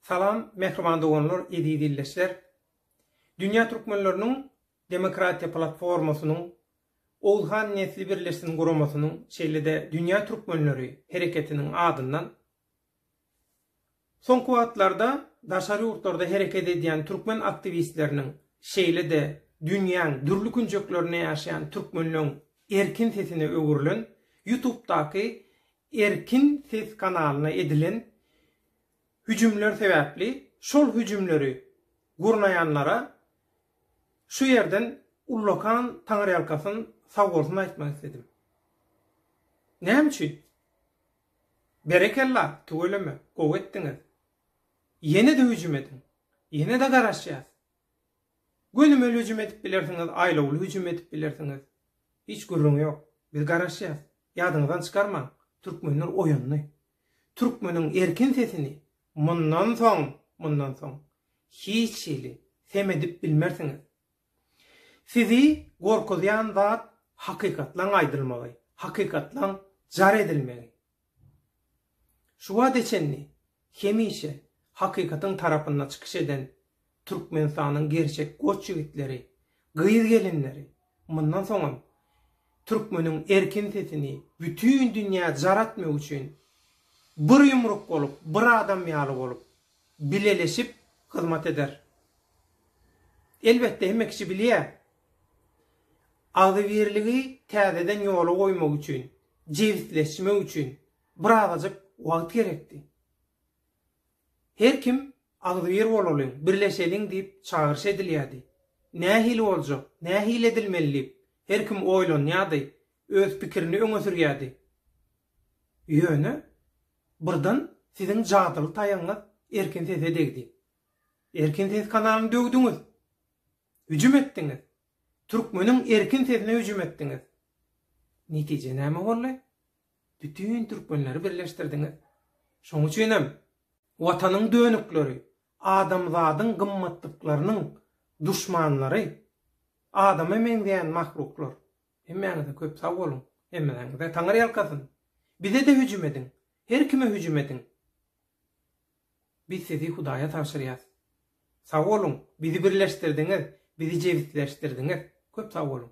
Salam mähriban doganlar eziz ildeşler! Dünýä Türkmenleriniň Demokratiýa Platformasynyň, Oguzhan Nesli Birleşsin guramasynyň şeýle-de Dünýä Türkmenleri hereketiniň adyndan Soňky wagtlarda daşary ýurtlarda hereket edýän türkmen aktiwistleriniň şeýle-de dünýäň dürli künjeklerinde ýaşaýan türkmenleň erkin sesine öwrülen Ýutubdaky Erkin ses kanalyna edilen hüjümler sebäpli şol hüjümleri gurnaýanlara şu ýerden ullakan taňyrýalkasyn sagbolsun aýtmak isledim. Näme üçin? Berekella, tüweleme, gowy etdiňiz. Ýene-de hüjüm ediň. Ýene-de garaşýas. Gönümel hüjüm edip bilersiňiz, aýlawly hüjüm edip bilersiňiz. Hiç gürrüň ýok. Biz garaşýas. Ýadyňyzdan çykarmaň. Türkmenler oýandy. Türkmeniň erkin sesini mundan soň, mundan soň hiç hili sem edip bilmersiňiz. Sizi gorkuzýan zat hakykatlaň aýdylmagy, hakykatlaň jar edilmegi. Şu wagta çenli hemişe hakykatyň tarapynda çykyş eden Türkmenistanyň gerçek goç ýigitleri, gyz-gelinleri mundan soňam türkmeniň erkin sesini bütin dünýä jar etmek üçin bir ýumruk bolup, bir adam ýaly bolup, bileleşip hyzmat eder. Elbetde, hemme kişi bilýär, agzybirligi täzeden ýola goýmak üçin jebisleşmek üçin birazajyk wagt gerekdi. Her kim agzybir bolalyň, birleşeliň diýip çagyryş edilýärdi. Nähili boljak, nähili edilmeli diýip, her kim oýlanýardy, öz pikirini öňe sürýärdi. Ýöne, birden siziň jadyly taýagyňyz Erkin sese degdi. Erkin ses kanalyny döwdüňiz. Hüjüm etdiňiz. Türkmeniň erkin sesine hüjüm etdiňiz. Netije näme boldy? Bütin türkmenleri birleşdirdiňiz. Şoň üçin hem Watanyň dönükleri, adamzadyň gymmatlyklarynyň duşmanlary, adama meňzeýän mahluklar. Hemmäňize köp sag boluň. Hemmäňize Taňyrýalkasyn. Bize-de hüjüm ediň. Her kime hüjüm ediň. Biz sizi Hudaýa tabşyrýas. Sag boluň, bizi birleşdirdiňiz, bizi jebisleşdirdiňiz. Köp sag boluň.